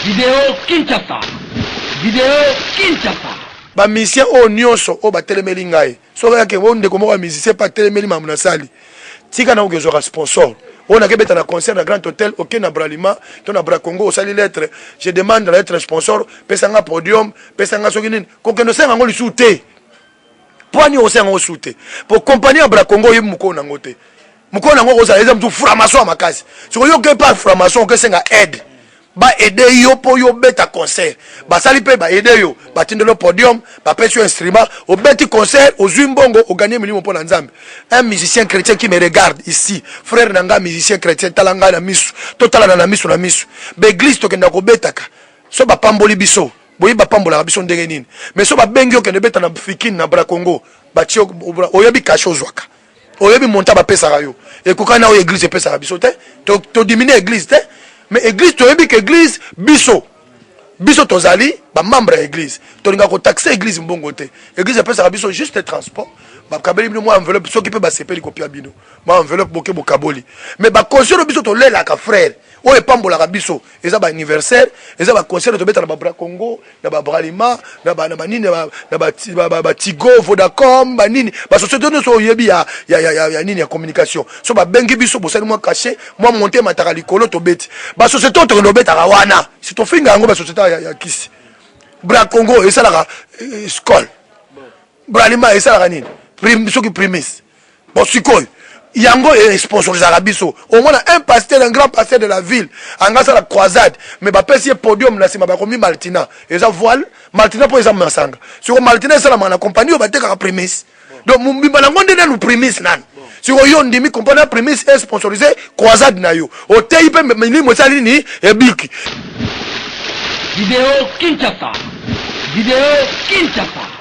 Video Kinshasa Video Kinshasa ba musiciens oyo nyonso oyo batelemeli ngai soki ayake o ndeko moko ya musicien mpe atelemeli mamu nasali tika na okezwaka sponsor oyo nake beta na concert na grand hotel oke na bralima to na bracongo osali lettre je demande la lettre sponsor pesa nga podium pesa nga soki nini kokende osenga yango lisusu te Pwani okosenga yango su te. Po kompani ya Bracongo oyebi mokolo na yango te. Mokolo na yango okozala eza motu framason ya makasi. Siko yo oke par framason okesenga aide. Ba aide yo po yo obeta concert. Basali pe ba aide yo. Batindelo podium, bapesi yo instrument, obeti concert, ozui mbongo, oganie milimo po na Nzambe. Un musicien chretien qui me regarde ici, frère na nga musicien chretien, tala nga na misu, totalana na misu na misu. Ba eglise tokenda kobetaka, soki bapamboli biso, boyebi bapambolaka biso ndenge nini mais so babengi yo kende beta na fikin na bra congo batie oyebi kashe ozwaka oyebi monta bapesaka yo ekokani na oyo eglise epesaka biso te todiminue eglise te mais eglise toyebi ke eglise biso biso tozali bamembre ya eglise tolinga kotaxe eglise mbongo te eglise epesaka biso juste transport bakabeli bino mwa enveloppe soki mpe basepeli kopia bino mwa enveloppe boke bokaboli mais bakonse no biso tolelaka frere oyo epambolaka biso eza ba anniversaire eza ba concert tobeta na ba bra congo na ba bralima na ba na ba nini na ba ba ba tigo vodacom ba nini ba société nso oyebi ya ya ya ya nini ya communication so ba bengi biso bosali mwa cachet mwa monte mataka likolo tobeti ba société oyo tokende obetaka wana si tofinga yango ba société ya, ya kisi bra congo esalaka eh, skol bralima esalaka nini Prim, soki primis bon sikoyo yango e sponsorisaka biso omona un pasteur un grand pasteur de la ville anga asala croisade mais bapesi ye podium na nsima bakomi maltina eza voile maltina mpo eza masanga siko maltina esalamaka na compagnie oyo batekaka primis donc mobimba nango nde nanu primis nanu siko yo ondimi compagnie ya primis e sponsorise croisade na yo oteyi mpe milimo esali nini ebiki video kinshasa video kinshasa